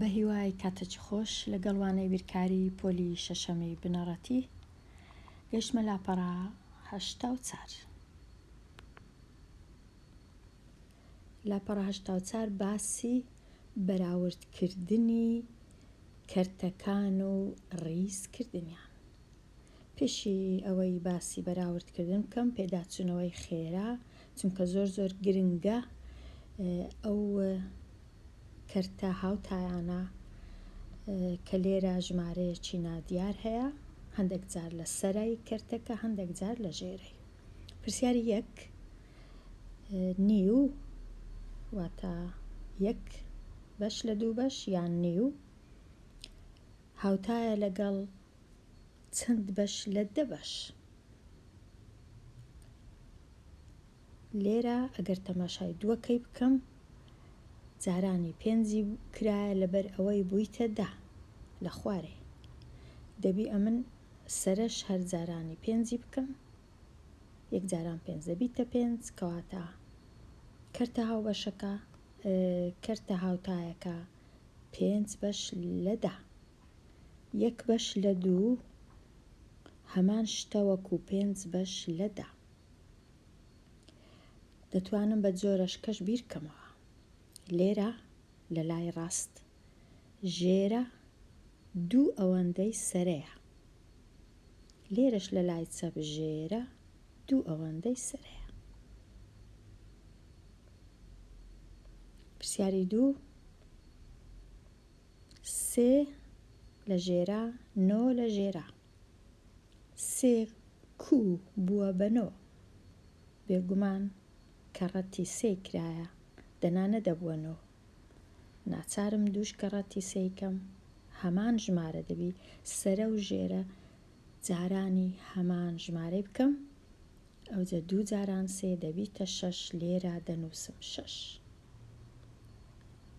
بەهیوای کاتەکی خۆش لەگەڵ وانەی بیرکاری پۆلی شەشەمی بنەڕەتی گەشتمە لاپەڕە هەشتا و چار لاپەڕە هەشتا و چار باسی بەراوردکردنی کەرتەکان و ڕیزکردنیان پێشی ئەوەی باسی بەراورد کردن بکەم پێداچوونەوەی خێرا چونکە زۆر زۆر گرنگە ئەو کەرتە هاوتایانە کە لێرە ژمارەیەکی نادیار هەیە هەندێک جار لە سەرای کەرتەکە هەندێک جار لە ژێرەی پرسیاری یەک نیو واتە یەک بەش لە دوو بەش یان نیو هاوتایە لەگەڵ چەند بەش لە دە بەش. لێرە ئەگەر تەماشای دووەکەی بکەم جارانی پێنجی کرایە لەبەر ئەوەی بوویتە دا لە خوارێ دەبی ئەمن سەرش هەر جارانی پێنجی بکەم یەک جاران پێنج دەبیتە پێنج کەواتە کەرتە هاوبەشەکە کەرتە هاوتایەکە پێنج بەش لەدا یەک بەش لە دوو هەمان شتە وەکو پێنج بەش لە دە دەتوانم بە جۆرەشکەش بیرکەمەوە لێرە لە لای ڕاست ژێرە دوو ئەوەندەی سەرەیە لێرەش لە لای چەپ ژێرە دوو ئەوەندەی سەرەیە پرسیاری دوو سێ لە ژێرا نۆ لە ژێرا سێ کو بووە بە نۆ بێگومان کە ڕەتی سێی کرایە دەنا نەدەبووە نۆ ناچارم دووش کە ڕەتی سێی کەم هەمان ژمارە دەبی سەرە و ژێرە جارانی هەمان ژمارەی بکەم ئەوجە دوو جاران سێ دەبیتە شەش لێرا دەنووسم شەش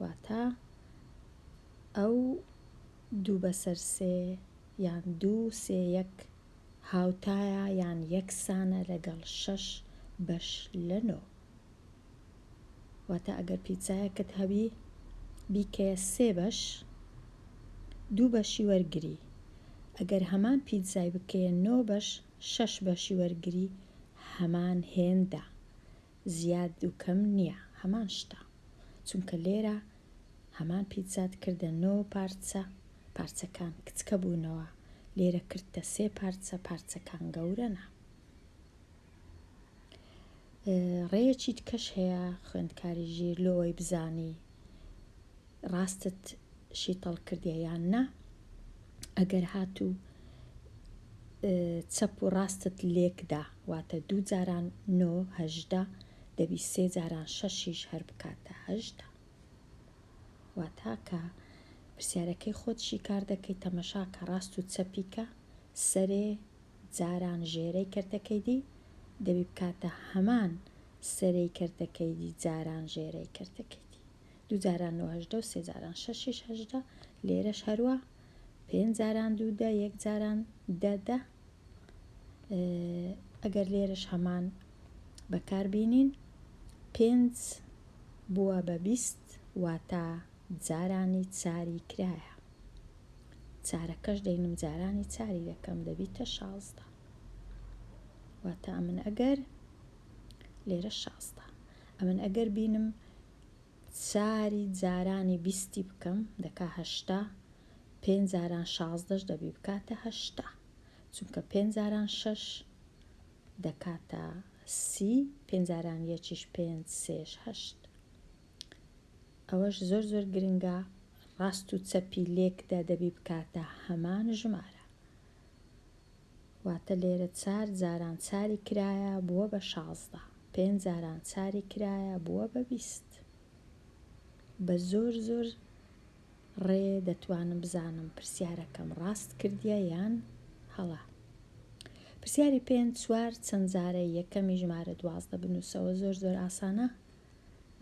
واتا ئەو دوو بەسەر سێ یان دوو سێ یەک هاوتایە یان یەکسانە لەگەڵ شەش بەش لە نۆ واتا ئەگەر پیتزایەکت هەبی بیکەیە سێ بەش دوو بەشی وەرگری ئەگەر هەمان پیتزای بکەیە نۆ بەش شەش بەشی وەرگری هەمان هێندە زیاد و کەم نیە هەمان شتە چونکە لێرە هەمان پیتزات کردە نۆ پارچە پارچەکان کچکە بوونەوە لێرە کردتە سێ پارچە پارچەکان گەورەنە. ڕێیەکی تکەش هەیە خوێندکاری ژیر لۆ ئەوەی بزانی ڕاستت شیتەڵ کردیە یان نا ئەگەر هاتوو چەپ و ڕاستت لێکدا واتە دوو جاران نۆ هەژدە دەبی سێ جاران شەشیش هەر بکاتە هەژدە واتاکە پرسیارەکەی خۆت شیکار دەکەی تەمەشاکە ڕاست و چەپیکە سەرێ جاران ژێرەی کەرتە کەیدی دەبی بکاتە هەمان سەرەی کەرتە کەیدی جاران ژێرەی کەرتە کەیدی دوو جاران نۆ هەژدە و سێ جاران شەشیش هەژدە لێرەش هەروە پێنج جاران دوو دە یەک جاران دە دە ئەگەر لێرەش هەمان بەکاربینین پێنج بووە بە بیست واتە جارانی چاری کرایە چارەکەش دەینم جارانی چاری دەکەم دەبیتە شازدە واتە ئەمن ئەگەر لێرە شازدە ئەمن ئەگەر بینم چاری جارانی بیستی بکەم دەکا هەشتا پێنج جاران شازدەش دەبی بکاتە هەشتا چونکە پێنج جاران شەش دەکاتە سی پێنجاران یەکیش پێنج سێش هەشت ئەوەش زۆر زۆر گرنگە ڕاست و چەپی لێکدا دەبی بکاتە هەمان ژمارە واتە لێرە چار جاران چاری کرایە بووە بە شازدە پێنج جاران چاری کرایە بووە بە بیست بە زۆر زۆر ڕێ دەتوانم بزانم پرسیارەکەم ڕاست کردیە یان هەڵە پرسیاری پێنج چوار چەند جارە یەکەمی ژمارە دوازدە بنووسەوە زۆر زۆر ئاسانە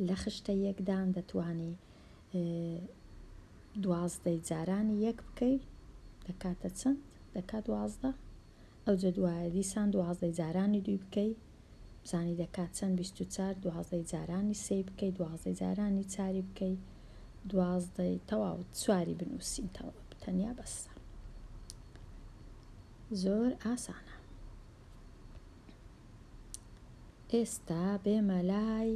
لە خشتە یەکدان دەتوانی دوازدەی جارانی یەک بکەی دەکاتە چەند دەکات دوازدە ئەوجە دوایە دیسان دوازدەی جارانی دوی بکەی بزانی دەکات چەند بیست و چار دوازدەی جارانی سێی بکەی دوازدەی جارانی چاری بکەی دوازدەی تەواو چواری بنووسین تەواو تەنیا بەسە زۆر ئاسانە ئێستا بێمە لای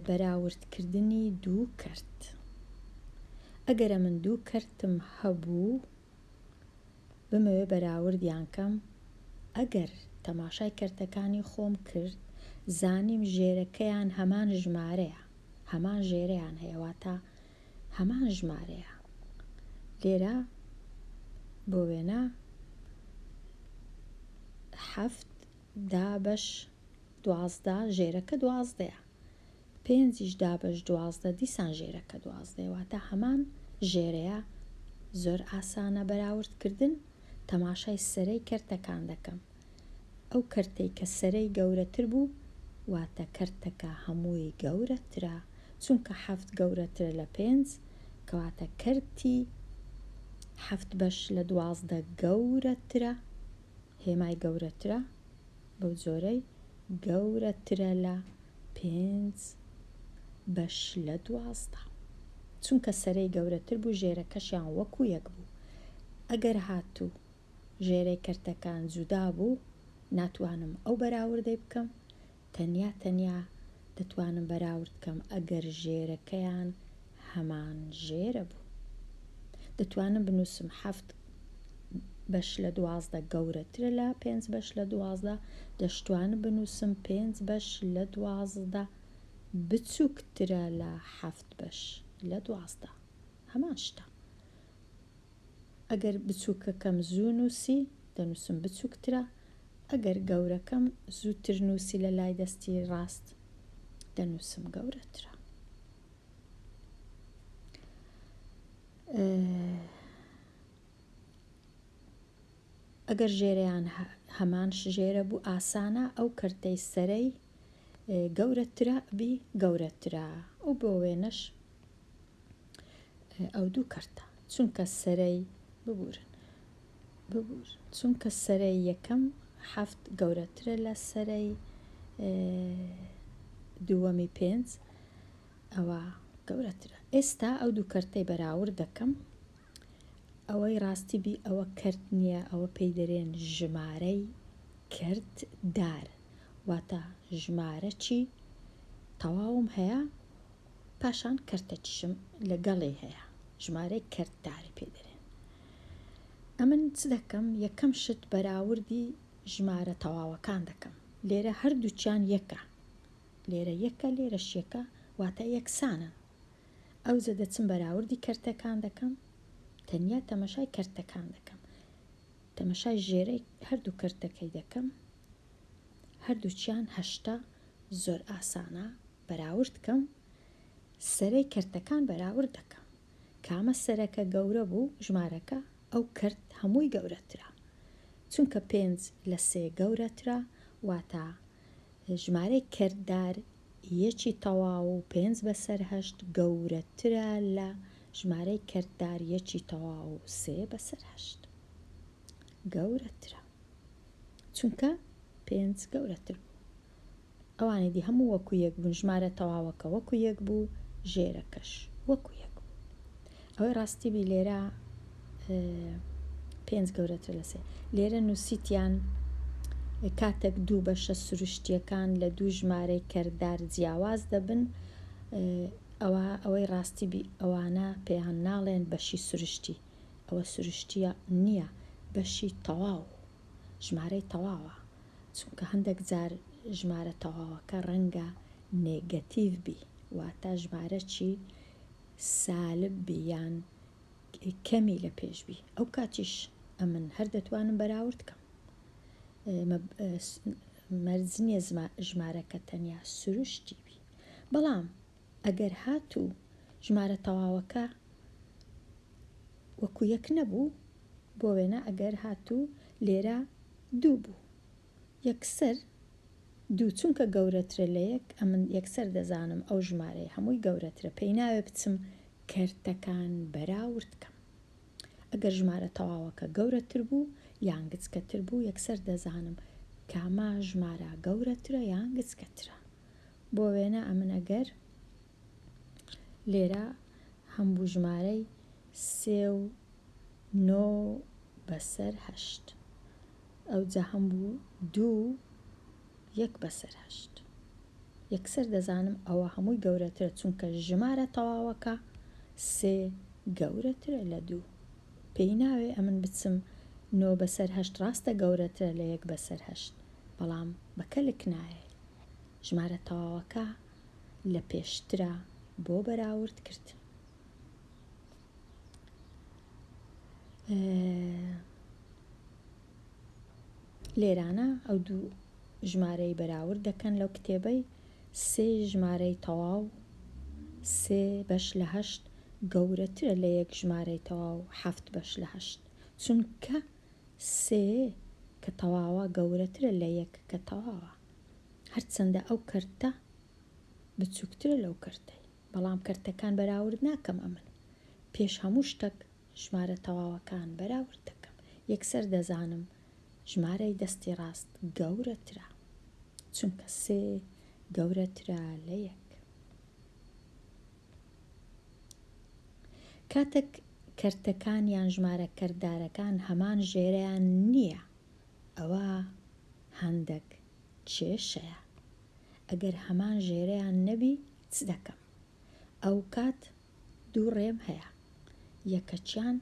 بەراوردکردنی دوو کەرت ئەگەرە من دوو کەرتم هەبوو بمەوێ بەراوردیان کەم ئەگەر تەماشای کەرتەکانی خۆم کرد زانیم ژێرەکەیان هەمان ژمارەیە هەمان ژێریان هەیەواتە هەمان ژمارەیە لێرە بۆ وێنە حەفت دابەش دوازدە ژێرەکە دوازدەیە پێنجیش دابەش دوازدە دیسان ژێرەکە دوازدەیە واتە هەمان ژێرەیە زۆر ئاسانە بەراوردکردن تەماشای سەرەی کەرتەکان دەکەم ئەو کەرتەی کە سەرەی گەورەتر بوو واتە کەرتەکە هەمووی گەورەترە چونکە حەفت گەورەترە لە پێنج کەواتە کەرتی حەفت بەش لە دوازدە گەورەترە هێمای گەورەترە بەو جۆرەی گەورەترە لە پێنج بەش لە دوازدە چونکە سەرەی گەورەتر بوو ژێرەکەشیان وەکو یەک بوو ئەگەر هاتوو ژێرەی کەرتەکان جودا بوو ناتوانم ئەو بەراوردەی بکەم تەنیا تەنیا دەتوانم بەراورد کەم ئەگەر ژێرەکەیان هەمان ژێرە بوو دەتوانم بنووسم حەفت بەش لە دوازدە گەورەترە لە پێنج بەش لە دوازدە دەشتوانم بنووسم پێنج بەش لە دوازدە بچووکترە لە حەفت بەش لە دوازدە هەمان شتە ئەگەر بچووکەکەم زوو نووسی، دەنووسم بچووکترە، ئەگەر گەورەکەم زووتر نووسی لە لای دەستی ڕاست، دەنووسم گەورەترە. ئەگەر ژێرەیان هەمان ژێرە بوو ئاسانە ئەو کەرتەی سەرەی گەورەترە بی گەورەترە و بۆ وێنەش ئەو دوو کەرتە چونکە سەرەی ببورن ببور چونکە سەرەی یەکەم حەفت گەورەترە لە سەرەی دووەمی پێنج ئەوە گەورەترە ئێستا ئەو دوو کەرتەی بەراورد دەکەم ئەوەی ڕاستی بی ئەوە کرد نییە ئەوە پێی دەرێن ژمارەی کرد دار واتە ژمارەچی تەواوم هەیە پاشان کەرتە چشم لە گەڵی هەیە ژمارەی کەرت داری پێ دەرێن ئەمن چ دەکەم یەکەم شت بەراوردی ژمارە تەواوەکان دەکەم لێرە هەردووکیان یەکە لێرە یەکە لێرەش یەکە واتە یەکسانن ئەوجە دەچم بەراوردی کەرتەکان دەکەم تەنیا تەمەشای کەرتەکان دەکەم تەمەشای ژێرەی هەردوو کەرتەکەی دەکەم هەردووکیان هەشتا زۆر ئاسانە بەراورد کەم سەرەی کەرتەکان بەراورد دەکەم کامە سەرەکە گەورە بوو ژمارەکە ئەو کەرت هەمووی گەورەترە چونکە پێنج لە سێ گەورەترە واتە ژمارەی کەردار یەکی تەواو و پێنج بەسەر هەشت گەورەترە لە ژمارەی کەردار یەکی تەواو و سێ بەسەر هەشت گەورەترە چونکە پێنج گەورەتر بوو ئەوانی دی هەموو وەکو یەک بوون ژمارە تەواوەکە وەکو یەک بوو ژێرەکەش وەکو یەک بوو ئەوەی ڕاستی بی لێرە پێنج گەورەتر لە سێ لێرە نووسیتیان کاتێک دوو بەشە سروشتیەکان لە دوو ژمارەی کەردار جیاواز دەبن ئەوە ئەوەی ڕاستی بی ئەوانە پێیان ناڵێن بەشی سروشتی ئەوە سروشتیە نییە بەشی تەواو ژمارەی تەواوە چونکە هەندەک جار ژمارە تەواوەکە رەنگە نێگەتیڤ بی واتا ژمارەچی سالب بی یان کەمی لە پێش بی ئەو کاتیش ئەمن هەر دەتوانم بەراورد کەم مەرج نییە ژمارەکە تەنیا سروشتی بی بەڵام ئەگەر هاتوو ژمارە تەواوەکە وەکو یەک نەبوو، بۆ وێنە ئەگەر هاتوو لێرە دوو بوو، یەکسەر دوو چونکە گەورەترە لە یەک، ئەمن یەکسەر دەزانم ئەو ژمارەیە هەمووی گەورەترە، پێی ناوێ بچم کەرتەکان بەراورد کەم. ئەگەر ژمارە تەواوەکە گەورەتر بوو یان گچکەتر بوو، یەکسەر دەزانم کامە ژمارە گەورەترە یان گچکەترە. بۆ وێنە ئەمن ئەگەر لێرە هەم بوو ژمارەی سێ و نۆ بەسەر هەشت ئەوجا هەم بوو دوو یەک بەسەر هەشت یەکسەر دەزانم ئەوە هەمووی گەورەترە چونکە ژمارە تەواوەکە سێ گەورەترە لە دوو پێی ناوێ ئەمن بچم نۆ بەسەر هەشت ڕاستە گەورەترە لە یەک بەسەر هەشت بەڵام بە کەلک نایە ژمارە تەواوەکە لە پێشترە بۆ بەراورد کرد. لێرانە ئەو دوو ژمارەی بەراورد دەکەن لەو کتێبەی سێ ژمارەی تەواو سێ بەش لە هەشت گەورەترە لە یەک ژمارەی تەواو هەفت بەش لە هەشت چونکە سێ کە تەواوە گەورەترە لە یەک کە تەواوە هەرچەندە ئەو کەرتە بچووکترە لەو کەرتەی بەڵام کەرتەکان بەراورد ناکەم ئەمن پێش هەموو شتەک ژمارە تەواوەکان بەراورد دەکەم یەکسەر دەزانم ژمارەی دەستی ڕاست گەورەترە چونکە سێ گەورەترە لە یەک کاتێک کەرتەکان یان ژمارە کەردارەکان هەمان ژێرەیان نییە ئەوە هەندەک کێشەیە ئەگەر هەمان ژێرەیان نەبی چ دەکەم ئەوکات دوو ڕێم هەیە یەکەکیان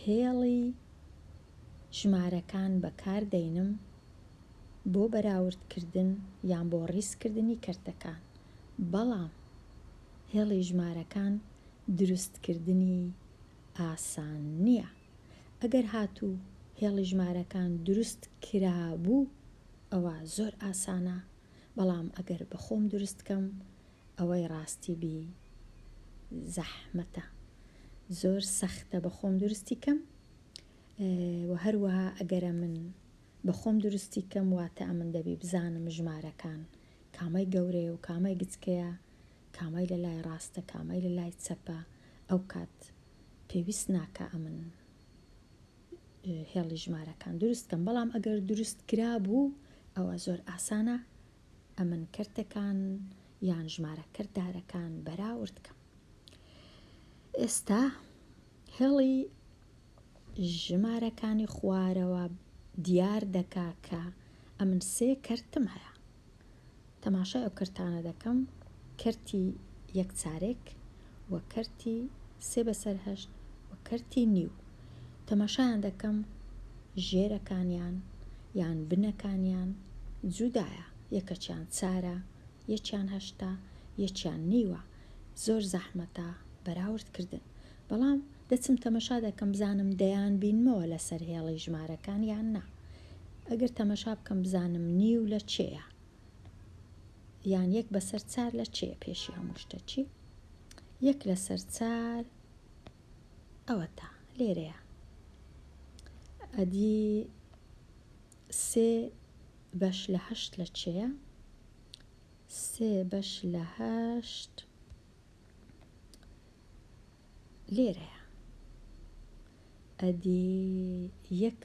هێڵی ژمارەکان بەکار دەینم بۆ بەراورد کردن یان بۆ ڕیز کردنی کەرتەکان بەڵام هێڵی ژمارەکان دروست کردنی ئاسان نیە. ئەگەر هاتوو هێڵی ژمارەکان دروست کرابوو ئەوا زۆر ئاسانە بەڵام ئەگەر بەخۆم دروست کەم ئەوەی ڕاستی بی زەحمەتە زۆر سەختە بەخۆم دروستی کەم وە هەروەها ئەگەرە من بەخۆم دروستی کەم واتە ئەمن دەبی بزانم ژمارەکان کامەی گەورەیە و کامەی گچکەیە کامەی لە لای ڕاستە کامەی لە لای چەپە ئەو کات پێویست ناکا ئەمن هێڵی ژمارەکان دروست کەم بەڵام ئەگەر دروست کرا بوو ئەوە زۆر ئاسانە ئەمن کردەکان یان ژمارە کردارەکان بەراورد کەم ئێستا هێڵی ژمارەکانی خوارەوە دیار دەکا کە ئەمن سێ کەرتم هەیە تەماشای ئەو کەرتانە دەکەم کەرتی یەک چارێک و کەرتی سێ بەسەر هەشت و کەرتی نیو تەماشایان دەکەم ژێرەکانیان یان بنەکانیان جودایە یەکەچیان چارە یەکیان هەشتە یەکیان نیوە زۆر زەحمەتە بەراوردکردن بەڵام دەچم تەمەشا دەکەم بزانم دەیان بینمەوە لەسەر هێڵی ژمارەکان یان نا ئەگەر تەمەشا بکەم بزانم نیو لە چێە یان یەک بەسەر چار لە چێ پێشی هەموو شتە چی یەک لەسەر چار ئەوە تا لێرەیە ئەدی سێ بەش لە هەشت لە چێە سێ بەش لە هەشت لێرەیە ئەدی یەک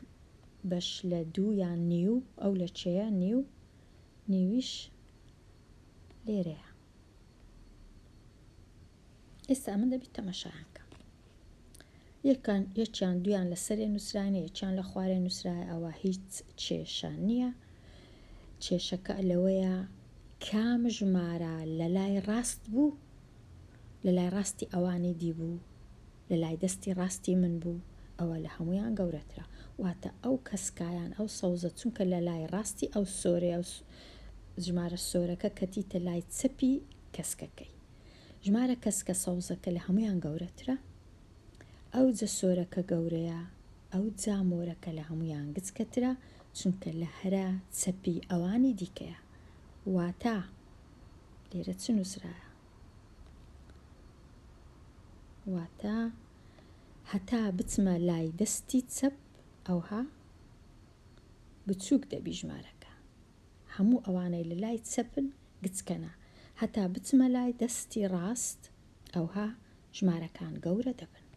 بەش لە دوو یان نیو ئەو لە چێە نیو نیویش لێرەیە ئێستا من دەبیت تەمەشایانکە یەکان یەکیان دویان لەسەرێ نووسراینە یەکیان لە خوارێ نووسرایە ئەوە هیچ کێشە نییە کێشەکە لەوەیە کام ژمارە لە لای ڕاست بوو لە لای ڕاستی ئەوانی دی بوو لە لای دەستی ڕاستی من بوو ئەوە لە هەمویان گەورەترە واتە ئەو کەسکایان ئەو سەوزە چونکە لە لای ڕاستی ئەو سۆرێ ژمارە سۆرەکە کەتیتە لای چەپی کەسکەکەی ژمارە کەسکە سەوزەکە لە هەموویان گەورەترە، ئەو جە سۆرەکە گەورەیە، ئەو جا مۆرەکە لە هەموویان گچکەترە، چونکە لە هەرە چەپی ئەوانی دیکەیە. واتا، لێرە چ نووسرایە؟ واتا، هەتا بچمە لای دەستی چەپ، ئەوها بچووک دەبی ژمارەکە. هەموو ئەوانەی لە لای چەپن گچکەنە هەتا بچمە لای دەستی ڕاست ئەوها ژمارەکان گەورە دەبن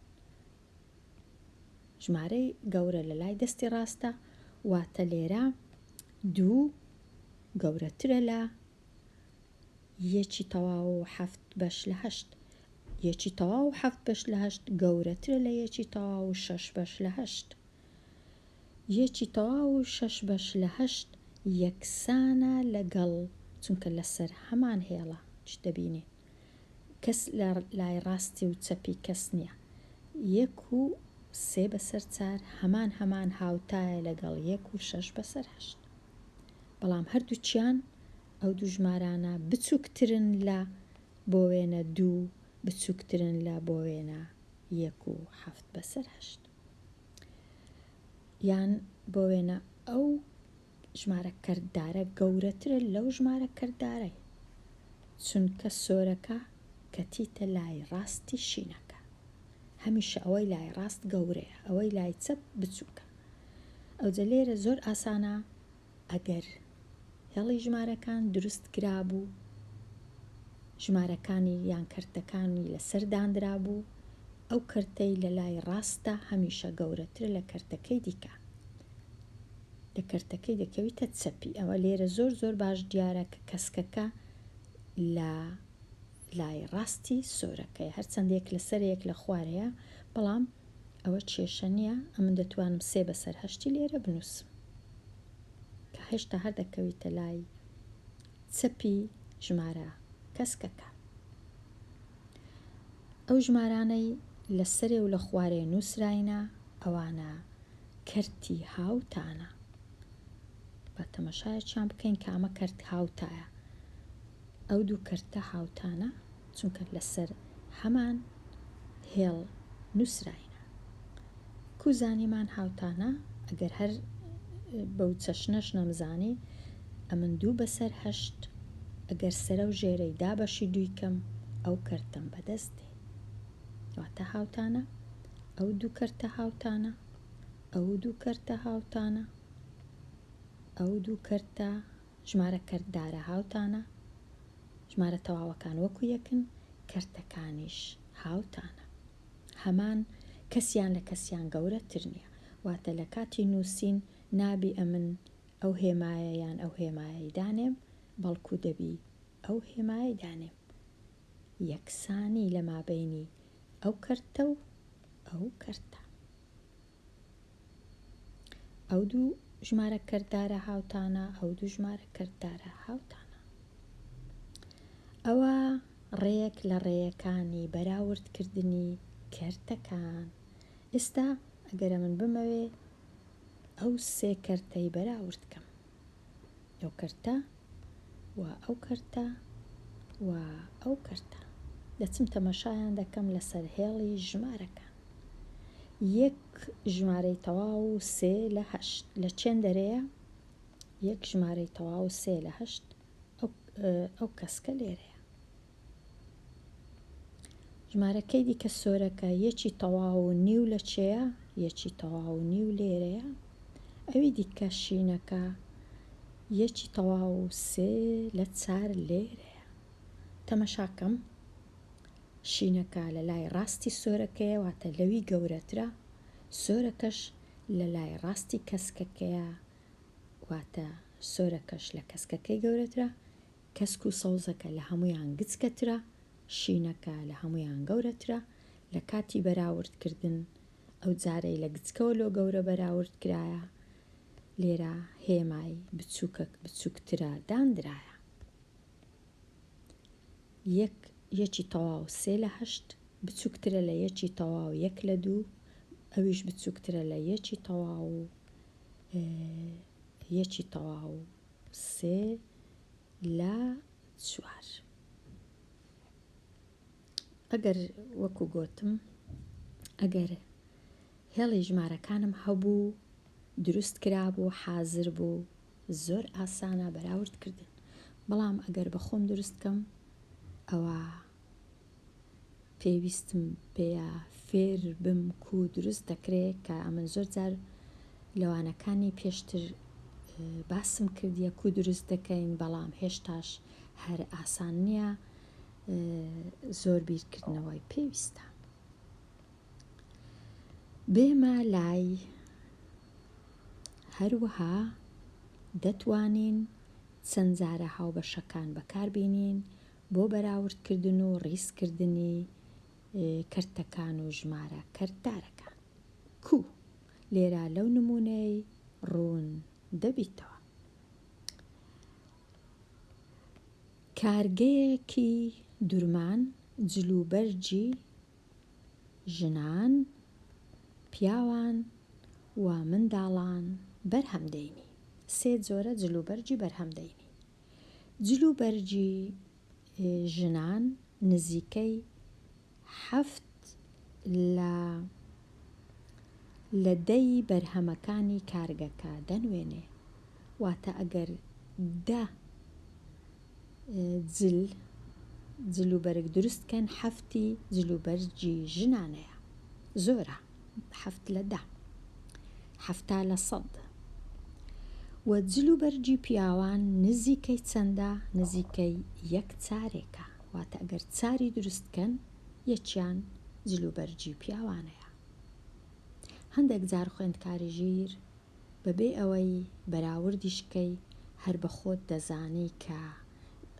ژمارەی گەورە لە لای دەستی ڕاستە واتە لێرە دوو گەورەترە لە یەکی تەواو و حەفت بەش لە هەشت یەکی تەواو و حەفت بەش لە هەشت گەورەترە لە یەکی تەواو و شەش بەش لە هەشت یەکی تەواو و شەش بەش لە هەشت یەکسانە لەگەڵ چونکە لەسەر هەمان هێڵە چ دەبینی کەس لە لای ڕاستی و چەپی کەس نیە یەک و سێ بەسەر چار هەمان هەمان هاوتایە لەگەڵ یەک و شەش بەسەر هەشت بەڵام هەردووکیان ئەو دوو ژمارانە بچووکترن لە بۆ وێنە دوو بچووکترن لە بۆ وێنە یەک و حەفت بەسەر هەشت. یان بۆ وێنە ئەو ژمارە کردارە گەورەترە لەو ژمارە کردارە چونکە سۆرەکە کەتیتە لای ڕاستی شینەکە هەمیشە ئەوەی لای ڕاست گەورەیە ئەوەی لای چەپ بچووکە ئەوجە لێرە زۆر ئاسانە ئەگەر هێڵی ژمارەکان دروست کرابوو ژمارەکانی یان کەرتەکانی لەسەر دانرابوو ئەو کەرتەی لە لای ڕاستە هەمیشە گەورەتر لە کەرتەکەی دیکە لە کەرتەکەی دەکەویتە چەپی ئەوە لێرە زۆر زۆر باش دیارە کە کەسکەکە لە لای ڕاستی سۆرەکەی هەرچەندێک لەسەرێک لە خوارەیە بەڵام ئەوە کێشە نیە ئەمن دەتوانم سێ بەسەر هەشتی لێرە بنوسم کە هێشتا هەر دەکەویتە لای چەپی ژمارە کەسکەکە ئەو ژمارانەی لە سەرێ و لە خوارێ نووسراینە ئەوانە کەرتی هاوتانە با تەمەشایەکیان بکەین کامە کەرت هاوتایە ئەو دوو کەرتە هاوتانە چونکە لەسەر هەمان هێڵ نووسراینە. کوو زانیمان هاوتانە، ئەگەر هەر بەو چەشنەش نەمزانی، ئەمن دوو بەسەر هەشت، ئەگەر سەرە و ژێرەی دا بەشی دووی کەم، ئەو کەرتەم بەدەست دێ. واتە هاوتانە، ئەو دوو کەرتە هاوتانە، ئەو دوو کەرتە هاوتانە، ئەو دوو کەرتە ژمارە کەرتدارە هاوتانە، ژمارە تەواوەکان وەکو یەکن، کەرتەکانیش هاوتانە. هەمان کەسیان لە کەسیان گەورەتر نییە. واتە لە کاتی نووسین نابی ئەمن ئەو هێمایە یان ئەو هێمایەی دانێم، بەڵکو دەبی ئەو هێمایەی دانێم. یەکسانی لە مابەینی ئەو کەرتە و ئەو کەرتە. ئەو دوو ژمارە کردارە هاوتانە ئەو دوو ژمارە کردارە هاوتانە ئەوە ڕێک لە ڕێیەکانی بەراوردکردنی کەرتەکان ئێستا ئەگەرە من بمەوێ ئەو سێ کەرتەی بەراوردکەم ئەو کەرتە و ئەو کەرتە و ئەو کەرتە دەچم تەمەشایان دەکەم لەسەر هێڵی ژمارەکان یەک ژمارەی تەواو و سێ لە هەشت لە چێن دەرەیە یەک ژمارەی تەواو سێ لە هەشت ئەو کەسکە لێرەیە ژمارەکەی دیکە سۆرەکە یەکی تەواو و نیو لە چێە یەکی تەواو و نیو لێرەیە ئەوی دیکە شینەکە یەکی تەواو و سێ لە چار لێرەیە تەمەشاکەم شینەکە لە لای ڕاستی سۆرەکەیە واتە لەوی گەورەترە سۆرەکەش لە لای ڕاستی کەسکەکەیە واتە سۆرەکەش لە کەسکەکەی گەورەترە کەسک و سەوزەکە لە هەموویان گچکەترە، شینەکە لە هەموویان گەورەترە، لە کاتی بەراوردکردن ئەو جارەی لە گچکەوە لۆ گەورە بەراورد کرایە، لێرە هێمای بچووکەک بچووکترە داندرایە. یەک یەکی تەواو سێ لە هەشت بچووکترە لە یەکی تەواو یەک لە دوو، ئەویش بچووکترە لە یەکی تەواو و یەکی تەواو سێ لە چوار. ئەگەر وەکو گۆتم ئەگەر هێڵی ژمارەکانم هەبوو دروست کرابوو حازر بوو زۆر ئاسانە بەراورد کردن بەڵام ئەگەر بە خۆم دروستکەم ئەوە پێویستم پێیە فێر بم کو دروست دەکرێ کە ئەمن زۆر جار لەوانەکانی پێشتر باسم کردیە کو دروست دەکەین بەڵام هێشتاش هەر ئاسان نییە زۆر بیرکردنەوەی پێویستە بێمە لای هەروەها دەتوانین چەند جارە هاوبەشەکان بەکاربینین بۆ بەراوردکردن و ڕیزکردنی کەرتەکان و ژمارە کەرتدارەکان. کو لێرە لەو نموونەی ڕوون دەبیتەوە. کارگەیەکی دورمان جلوبەرگی ژنان، پیاوان و منداڵان بەرهەم دەینی. سێ جۆرە جلوبەرگی بەرهەم دەینی. جل و بەرگی ژنان نزیکەی حەفت لە لە دەی بەرهەمەکانی کارگەکە دەنوێنێ، واتە ئەگەر دە جل جل و بەرگ دروست کەن حەفتی جل و بەرگی ژنانەیە، زۆرە. حەفت لە دە. حەفتا لە سەد. وە جل و بەرگی پیاوان نزیکەی چەندە؟ نزیکەی یەک چارێکە. واتە ئەگەر چاری دروست بکەن یەکیان جل و بەرگی پیاوانەیە. هەندێک جار خوێندکاری ژیر بەبێ ئەوەی بەراوردیش بکەی هەر بە خۆت دەزانی کە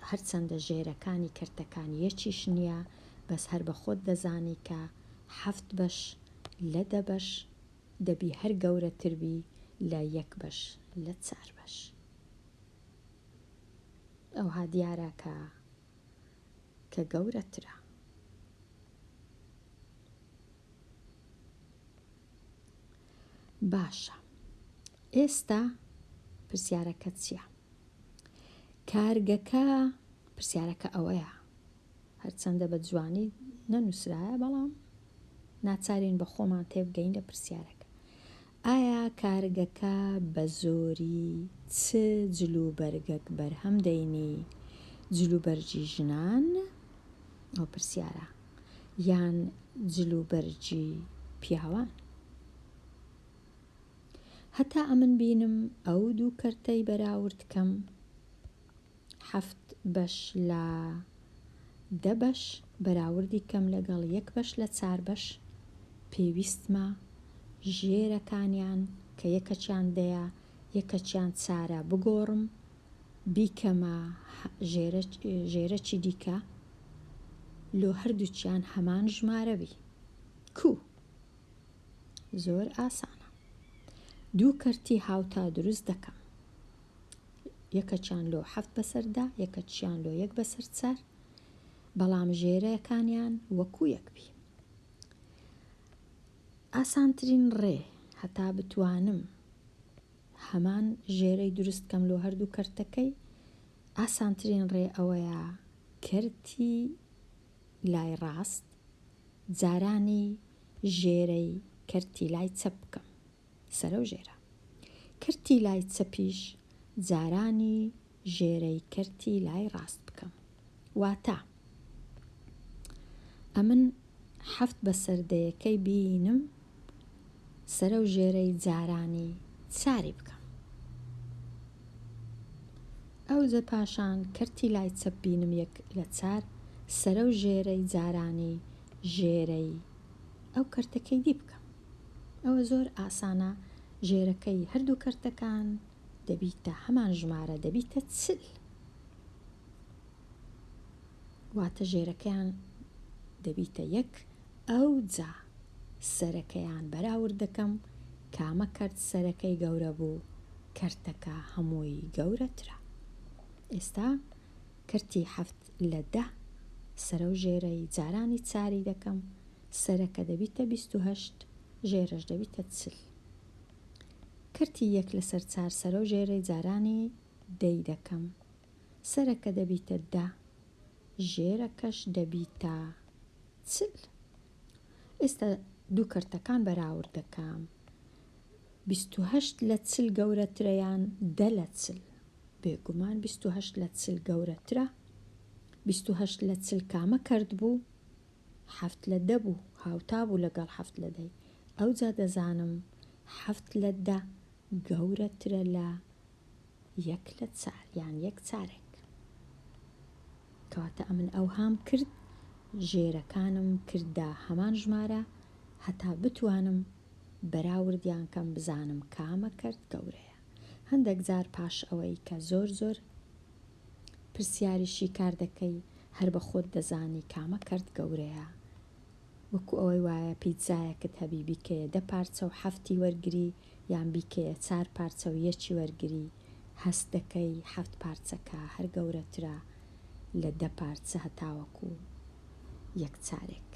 هەرچەندە ژێرەکانی کەرتەکان یەکیش نیە بەس هەر بە خۆت دەزانی کە حەفت بەش لە دە بەش دەبی هەر گەورەتر بی لە یەک بەش لە چار بەش ئەوها دیارە کە کە گەورەترە باشە ئێستا پرسیارەکە چییە کارگەکە پرسیارەکە ئەوەیە هەرچەندە بە جوانی نەنووسرایە، بەڵام ناچارین بە خۆمان تێبگەین لە پرسیارەکە، ئایا کارگەکە بە زۆری چ جلوبەرگەک بەرهەم دەینی، جلوبەرگی ژنان، ئەو پرسیارە، یان جلوبەرگی پیاوان؟ هەتا ئەمن بینم ئەو دوو کەرتەی بەراورد کەم، حەفت بەش لە دە بەش بەراوردی کەم لەگەڵ یەک بەش لە چار بەش پێویستمە، ژێرەکانیان کە یەکەکیان دەیە یەکەکیان چارە بگۆڕم بیکەمە ژێرەکی دیکە لۆ هەردووکیان هەمان ژمارە بی کو زۆر ئاسانە دوو کەرتی هاوتا دروست دەکەم یەکەکیان لۆ حەفت بەسەر دە یەکەکیان لۆ یەک بەسەر چار بەڵام ژێرەکانیان وەکو یەک بی ئاسانترین ڕێ هەتا بتوانم هەمان ژێرەی دروست کەم لۆ هەردوو کەرتەکەی ئاسانترین ڕێ ئەوەیە کەرتی لای ڕاست جارانی ژێرەی کەرتی لای چەپ بکەم سەرەو ژێرە. کەرتی لای چەپیش جارانی ژێرەی کەرتی لای ڕاست بکەم. واتە ئەمن حەفت بەسەر دەیەکەی بینم سەرەو ژێرەی جارانی چاری بکەم. ئەوجە پاشان کەرتی لای چەپ بینم یەک لە چار سەرەو ژێرەی جارانی ژێرەی ئەو کەرتەکەی دی بکەم. ئەوە زۆر ئاسانە ژێرەکەی هەردوو کەرتەکان دەبیتە هەمان ژمارە دەبیتە چل واتە ژێرەکەیان دەبیتە یەک ئەو جا سەرەکەیان بەراورد دەکەم کامە کەرت سەرەکەی گەورە بوو کەرتەکە هەمووی گەورەترە ئێستا کەرتی حەفت لە دە سەرە و ژێرەی جارانی چاری دەکەم سەرەکە دەبیتە بیست و هەشت ژێرەش دەبیتە چل. کرتی یەک لەسەر چار سەرەو ژێرەی جارانی دەی دەکەم. سەرەکە دەبیتە دە ژێرەکەش دەبیتە چل. ئێستا دوو کرتەکان بەراورد دەکەم. بیست و هەشت لە چل گەورەترە یان دە لە چل. بێگومان بیست و هەشت لە چل گەورەترە. بیست و هەشت لە چل کامە کەرت بوو؟ حەفت لە دە بوو هاوتا بوو لەگەڵ حەفت لە دەی ئەوجا دەزانم حەفت لە دە گەورەترە لە یەک لە چار یان یەک چارەک کەواتە ئەمن ئەوهام کرد ژێرەکانم کردە هەمان ژمارە هەتا بتوانم بەراوردیان کەم بزانم کامە کەرت گەورەیە هەندەک جار پاش ئەوەی کە زۆر زۆر پرسیاری شی کار دەکەی هەر بە خۆت دەزانی کامە کەرت گەورەیە وەکو ئەوەی وایە پیتزایەکت هەبی بیکەیە دە پارچە و حەفتی وەرگری یان بیکەیە چار پارچە و یەکی وەرگری هەست دەکەی حەفت پارچەکە هەر گەورەترە لە دە پارچە هەتاوەکو یەک چارێک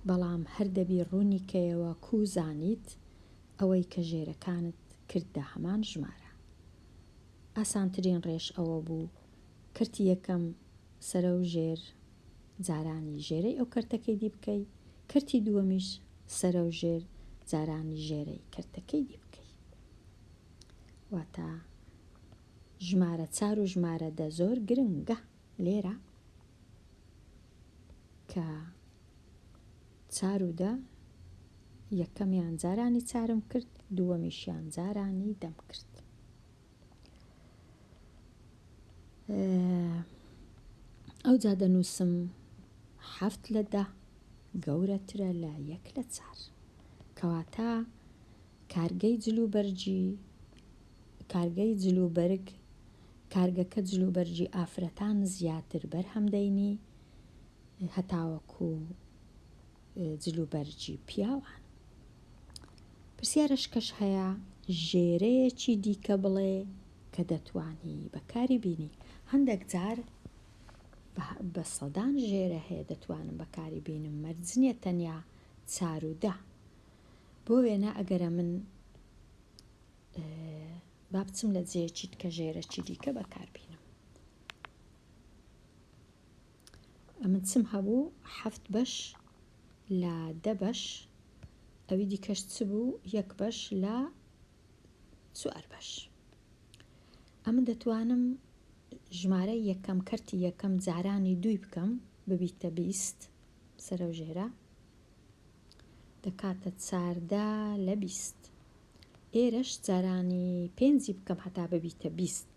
بەڵام هەر دەبی ڕوونی کەیەوە کوو زانیت ئەوەی کە ژێرەکانت کردە هەمان ژمارە. ئاسانترین ڕێش ئەوە بوو کەرتی یەکەم سەرە و ژێر جارانی ژێرەی ئەو کەرتەکەی دی بکەی، کەرتی دووەمیش سەرە و ژێر جارانی ژێرەی کەرتەکەی دی بکەی. واتە ژمارە چار و ژمارە دە زۆر گرنگە. لێرە کە چار و دە یەکەمیان جارانی چارم کرد دووەمیشیان جارانی دەم کرد ئەو جا دەنووسم حەفت لە دە گەورەترە لە یەک لە چار کەواتە کارگەی جلوبەرگی کارگەی جلوبەرگ کارگەکە جلوبەرگی ئافرەتان زیاتر بەرهەم دەینی هەتاوەکو جلوبەرگی پیاوان پرسیارش کەش هەیە ژێرەیەکی دیکە بڵێ کە دەتوانی بەکاری بینی هەندێک جار بە سەدان ژێرە هەیە دەتوانم بەکاری بینم مەرجنیە تەنیا چارودە بۆ وێنە ئەگەرە من با بچم لە جێچیت کە ژێرەکی دیکە بەکاربینم ئەمن چم هەبوو هەفت بەش لە دە بەش ئەوی دیکەش چ بوو یەک بەش لە چوار بەش ئەمن دەتوانم ژمارە یەکەم کەرتی یەکەم جارانی دوی بکەم ببیتە بیست سەرە ژێرە دەکاتە چاردە لە بیست. ئێرەش جارانی پێنجی بکەم هەتا ببیتە بیست.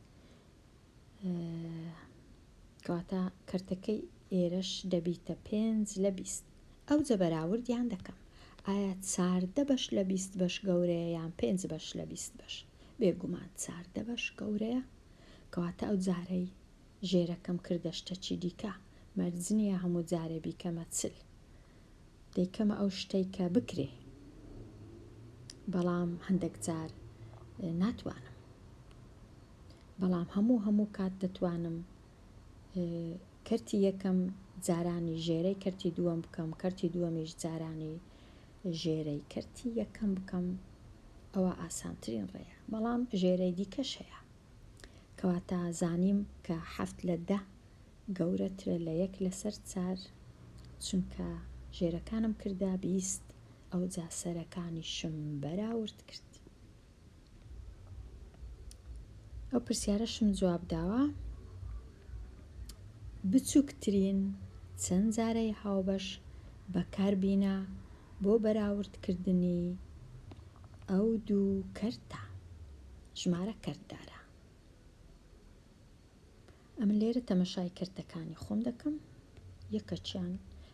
کەواتە کەرتەکەی ئێرەش دەبیتە پێنج لە بیست. ئەوجە بەراوردیان دەکەم. ئایا چاردە بەش لە بیست بەش گەورەیە یان پێنج بەش لە بیست بەش؟ بێگومان چاردە بەش گەورەیە. کەواتە ئەو جارەی ژێرەکەم کردە شتەکی دیکە مەرج نیە هەموو جارێ بیکەمە چل دەیکەمە ئەو شتەی کە بکرێ بەڵام هەندێک جار ناتوانم بەڵام هەموو هەموو کات دەتوانم کەرتی یەکەم جارانی ژێرەی کەرتی دووەم بکەم کەرتی دووەمیش جارانی ژێرەی کەرتی یەکەم بکەم ئەوە ئاسانترین ڕێە بەڵام ژێرەی دیکەش هەیە کەواتە زانیم کە حەفت لە دە گەورەترە لە یەک لەسەر چار چونکە ژێرەکانم کردە بیست ئەوجا سەرەکانیشم بەراورد کرد ئەو پرسیارەشم جواب داوە بچووکترین چەند جارەی هاوبەش بەکاربینە بۆ بەراوردکردنی ئەو دوو کەرتە ژمارە کەرت دارە. ئەمن لێرە تەمەشای کەرتەکانی خۆم دەکەم یەکەچیان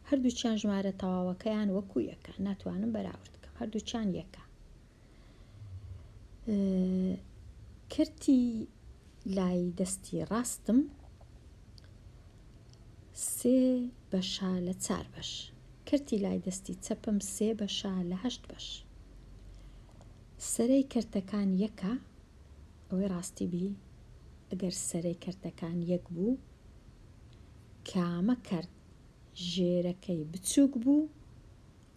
هەردووچیان ژمارە تەواوەکەیان وەکو یەکە ناتوانم بەراورد بکەم هەردووچیان یەکە کرتی لای دەستی ڕاستم سێ بەشە لە چار بەش کرتی لای دەستی چەپم سێ بەشە لە هەشت بەش سەرەی کەرتەکان یەکە ئەوەی ڕاستی بی ئەگەر سەرەی کەرتەکان یەک بوو کامە کەرت ژێرەکەی بچووک بوو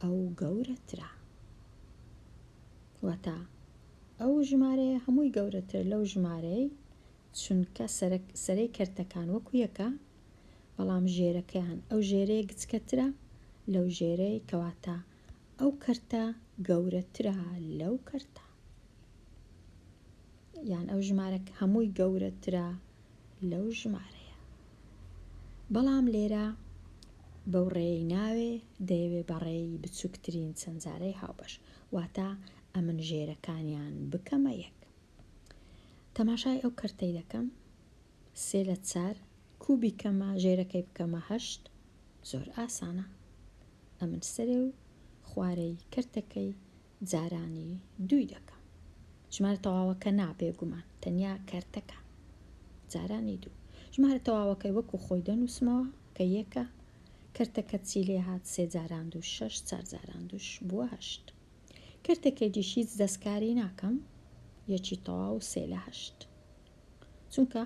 ئەو گەورەترە واتە ئەو ژمارەیە هەمووی گەورەتر لەو ژمارەی چونکە سەرەی کەرتەکان وەکو یەکە بەڵام ژێرەکەیان ئەو ژێرەیە گچکەترە لەو ژێرەی کەواتە ئەو کەرتە گەورەترە لەو کەرتە یان ئەو ژمارە هەمووی گەورەترە لەو ژمارەیە بەڵام لێرە بەو ڕێی ناوێ دەیەوێ بەڕێی بچووکترین چەندجارەی هاوبەش واتە ئەمن ژێرەکانیان بکەمە یەک تەماشای ئەو کەرتەی دەکەم سێ لە چار کوبی کەمە ژێرەکەی بکەمە هەشت زۆر ئاسانە ئەمن سەرێ و خوارەی کەرتەکەی جارانی دووی دەکەم ژمارە تەواوەکە نا بێگومان تەنیا کەرتەکە جارانی دوو ژمارە تەواوەکەی وەکو خۆی دەنووسمەوە کە یەکە کەرتەکە چی لێ هات سێ جاران دوو شەش چار جاران دووش بووە هەشت کەرتەکەی دیش هیچ دەستکاری ناکەم یەکی تەواو سێ لە هەشت چونکە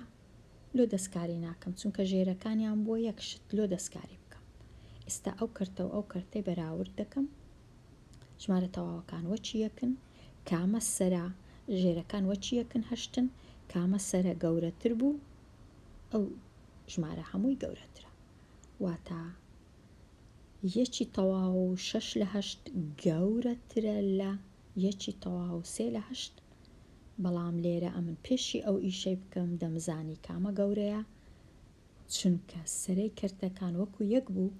لۆ دەستکاری ناکەم چونکە ژێرەکانیان بۆ یەک شت لۆ دەستکاری بکەم ئستا ئەو کەرتەو ئەو کەرتەی بەراورد دەکەم ژمارە تەواوەکان وەچی یەکن کامە سەرا ژێرەکان وەچی یەکن هەشتن کامە سەرە گەورەتر بوو ئەو ژمارە هەمووی گەورەترە واتا یەکی تەواو و شەش لە هەشت گەورەترە لە یەکی تەواو سێ لە هەشت بەڵام لێرە ئەمن پێشی ئەو ئیشەی بکەم دەمزانی کامە گەورەیە چونکە سەرەی کەرتەکان وەکو یەک بوو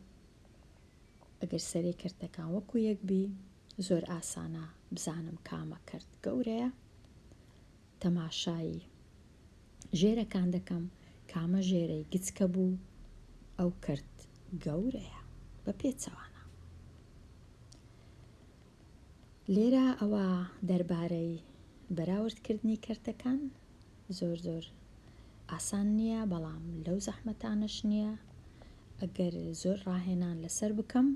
ئەگەر سەرەی کەرتەکان وەکو یەک بی زۆر ئاسانە بزانم کامە کەرت گەورەیە تەماشایی ژێرەکان دەکەم کامە ژێرەی گچکە بوو ئەو کرد گەورەیە بە پێچەوانە لێرە ئەوە دەربارەی بەراورد کردنی کەرتەکان زۆر زۆر ئاسان نییە بەڵام لەو زەحمەتانەش نییە ئەگەر زۆر ڕاهێنان لەسەر بکەم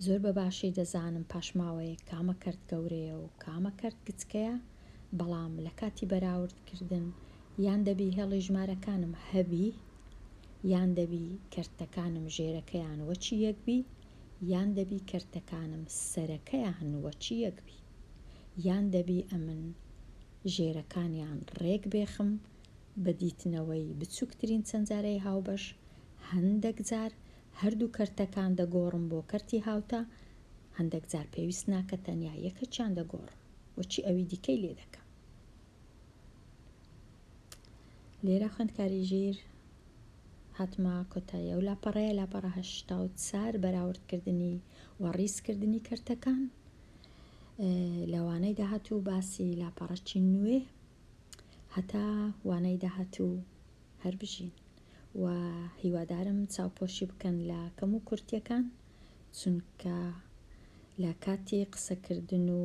زۆر بە باشی دەزانم پاشماوەیە کامە کەرت گەورەیە و کامە کەرت گچکەیە بەڵام لە کاتی بەراوردکردن یان دەبی هێڵی ژمارەکانم هەبی یان دەبی کەرتەکانم ژێرەکەیان وەچی یەکبی یان دەبی کەرتەکانم سەرەکەیان وەچیەک بی یان دەبی ئەمن ژێرەکانیان ڕێک بێخم بە دیتنەوەی بچوکترین چەنجەرەی هاوبەش هەندەک جار هەردوو کەرتەکان دەگۆڕم بۆ کەرتی هاوتا هەندەک جار پێویست ناکە تەنیا یەکەکیان دەگۆڕم وەچی ئەوی دیکەی لێ دەکەم لێرە خوێندکاری ژیر هاتمە کۆتایی ئەو لاپەڕەیە لاپەڕە هەشتا و چار بەراوردکردنی و ڕیزکردنی کەرتەکان لەوانەی داهاتوو باسی لاپەڕەچی نوێ هەتا وانەی داهاتوو هەر بژین و هیوادارم چاوپۆشی بکەن لە کەم و کورتەکان چونکە لە کاتی قسەکردن و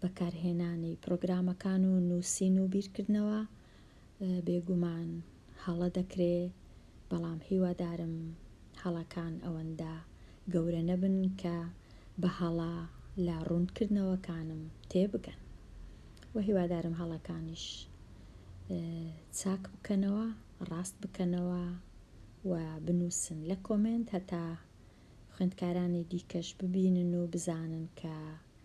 بەکارهێنانی پرۆگرامەکان و نووسین و بیرکردنەوە بێگومان هەڵە دەکرێ بەڵام هیوادارم هەڵەکان ئەوەندە گەورە نەبن کە بە هەڵە لە ڕوونکردنەوەکانم تێبگەن و هیوادارم هەڵەکانیش چاک بکەنەوە ڕاست بکەنەوە و بنووسن لە کۆمێنت هەتا خوێندکارانی دیکەش ببینن و بزانن کە